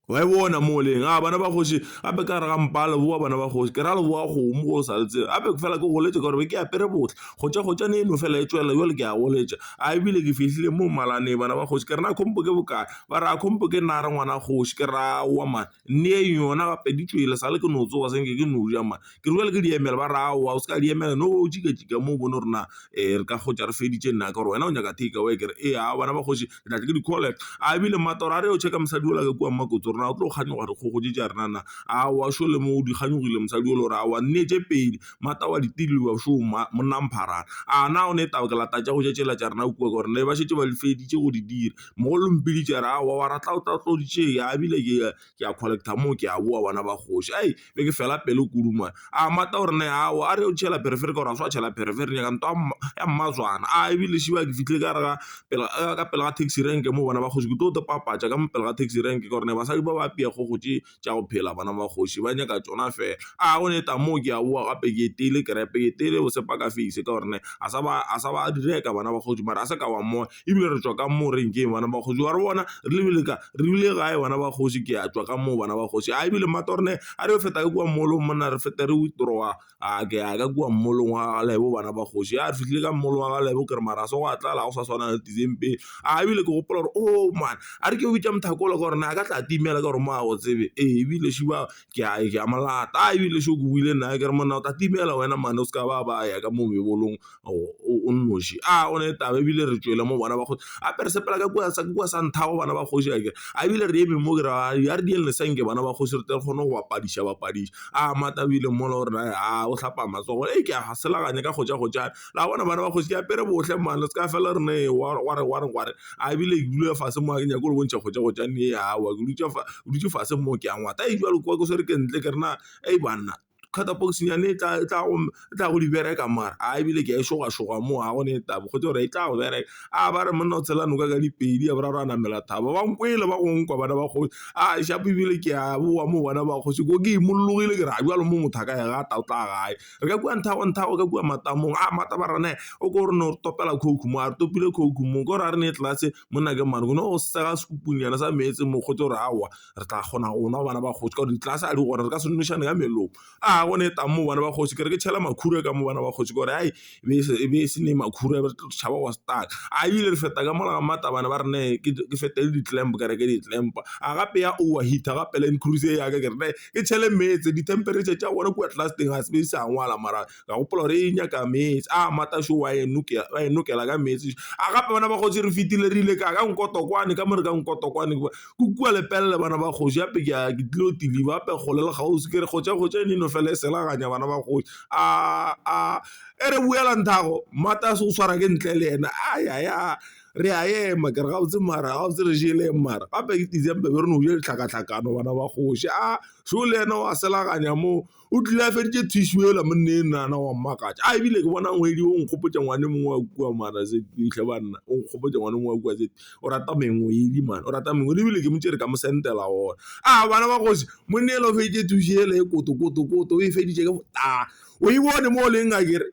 Wa e bona mo leng? A bana ba kgoši gape ka re ga mpa a leboa bana ba kgoši ke ra leboa kgomo go sa le tsebe gape ke fela ke goletše ka gore be ke apere botle kgotša kgotša ne e no fela e tswelela jale ke a goletša a ebile ke fihlile mo malane bana ba kgoši ke re na khompo ke bokae ba re a khompo ke nna re ngwana kgoši ke ra wa mane nne e yona gape di tswele sa le ke no tsoga se nke ke no ja mane ke re jwale ke di emele, ba re aowa o se ka di emela no bo o jika-jika mo o bone gore na re ka hwetša re feditše nna ka gore wena o nyaka take away, ke re ee aowa bana ba kgoši ke tla tle ke di call-e, a ebile mmato ra re yeo check-a mosadi yola ka kua mmakotsi gore na o tlo kganyoga dikgogo tše tša rena na, aowa šole mo o di kganyogile mosadi yola o re aowa nne tše pedi, mmata wa di šo monna mpharana, a na o ne taba ke lata tša go ja tšela tša rena kua ka gore ne ba šetše ba di feditše go di dira, mogolo mpiditše a re aowa wa ra tla o tla o tlo di tšea, a ebile ke ya. ke a collector moo ke a boa bana ba kgoši hai be ke fela pelo kudu mane a mmata gore ne ao a re o tšhela pherefere ka gore a se wa tšhela pherefere nyaka ntwa ya mmatswana a ebile šiba ke fihle ka re ga pela ka pela ga taxi rank moo bana ba kgoši ke tlo papatša ka mo pele ga taxi rank ka gore ne basadi ba ba apea kgogo tše tša go phela bana ba kgoši ba nyaka tšona fela a go ne taba moo ke a boa gape ke iteile kerepe ke iteile go sepaka face ka gore ne a sa ba a sa ba di reka bana ba kgoši mara a se ka wa mmona. ebile re tswa ka mo renkeng bana ba kgoši wa re bona re lebile ka re bile gae bana ba kgoši ke a tswa ka moo bana ba kgoši a ebile mmata gore ne a re feta ka kua mall-ong monna re feta re withdraw-a a ke ya ka kua mall-ong wa galebo bana ba kgoši ya re fihlile ka mall-ong wa galebo ke re mara se go a tlala go sa tshwana le tizeng pele a ebile ke gopola gore o man a re ke bitsa mothakolo ka gore ne a ka tla timela ka gore mo a go tsebe ee ebile šiba ke a e ke a mo lata a ebile se ke buile nna ke re monna o tla timela wena mane o se ka ba ba ya ka mo mebolong o nnoši a o ne taba ebile re tšwele mo bona ba go apere sepela ka kwa sa kwa sa ntha go bana ba kgoši a ke a ebile re eme mo ke ra ya re di le senke bana ba kgoši re tle re kgone go ba padiša ba padiša a matabile mola o re naya a o hlapa matsogo e ke a selaganya ka go ja go ja. la bona bana ba kgoši ke apere bohle mane le se ka fela rena e wa re wa re wa re a e bile ke dule fase mo a ke nyake go le bontšha kgotsa go tšane e aowa ke dutše fa o dutše fase mo ke a ngwata e jwale kwa ke swere ke ntle ke rena a e banna catabox nyane e tla e tla go e tla go di bereka mare a e bile ke a e šoga šoga mo a gone e taba kgotsa gore e tla go bereka a ba re monna o tshela noka ka dipedi ya boraro a namela thaba ba nkwele ba gongwe kwa bana ba kgoši a shapo e bile ke a boa mo bona ba kgoši ko ke imologile ke re a jwale mo motho a ka ya ga ta o tla gae re ka kua nthago nthago ka kua matamong a matabarane o ko re no topela coke mo a re topile coke mo ko re a re ne tlase monna ke mane go ne go sega sekupunyana sa meetse mokgotsi gore aowa re tla kgona go nwa bana ba kgosi ka gore ditlase a di gona re ka se nošane ka melomo a go ne tang mo bana ba kgosi ke re ke tšhela makhura ka mo bana ba kgosi gore ai e be e se ne makhura e be re tlo tšhaba go stuck a ebile re feta ka mola ga matabane ba re ne ke fetele di-clamp ka re ke di-clamp a gape ya overheater gape Land Cruiser yaka ke re ne e tšhele meetse dithemperetšha tša gona kua tlase teng ga se be di sa ngwala mara ka gopola gore e nyaka meetse a mata šo wa e nokela ka meetse a gape bana ba kgoši re fetile re ile ka ka nkotokwane ka mo re ka nkotokwane ke kua lepelele bana ba kgoši gape ke ke tlilo tiliba gape kgole le kgaosi ke re kgotša kgotša e neno fela e selaganya bana ba kgoši a a e re boela nthago mata se o swara ke ntle le ena a ya ya re a ema ke re gabotse mara gabotse re jele mara gape ke december be re no ja ditlhakatlhakano bana ba kgoši a so le ena wa selaganya moo o tlile a feditše thišu ela monne e nana wa mmakatša a ebile ke bona ngwedi o nkgopotša ngwane mongwe wa kua mara se itlhe banna o nkgopotša ngwane mongwe wa kua se o rata mengwedi mane o rata mengwedi ebile ke motse re ka mo sentela ona a bana ba kgoši monne ela o feditše thišu ela e kotokotokoto o e feditše ke botala o e bone mo o leng a kere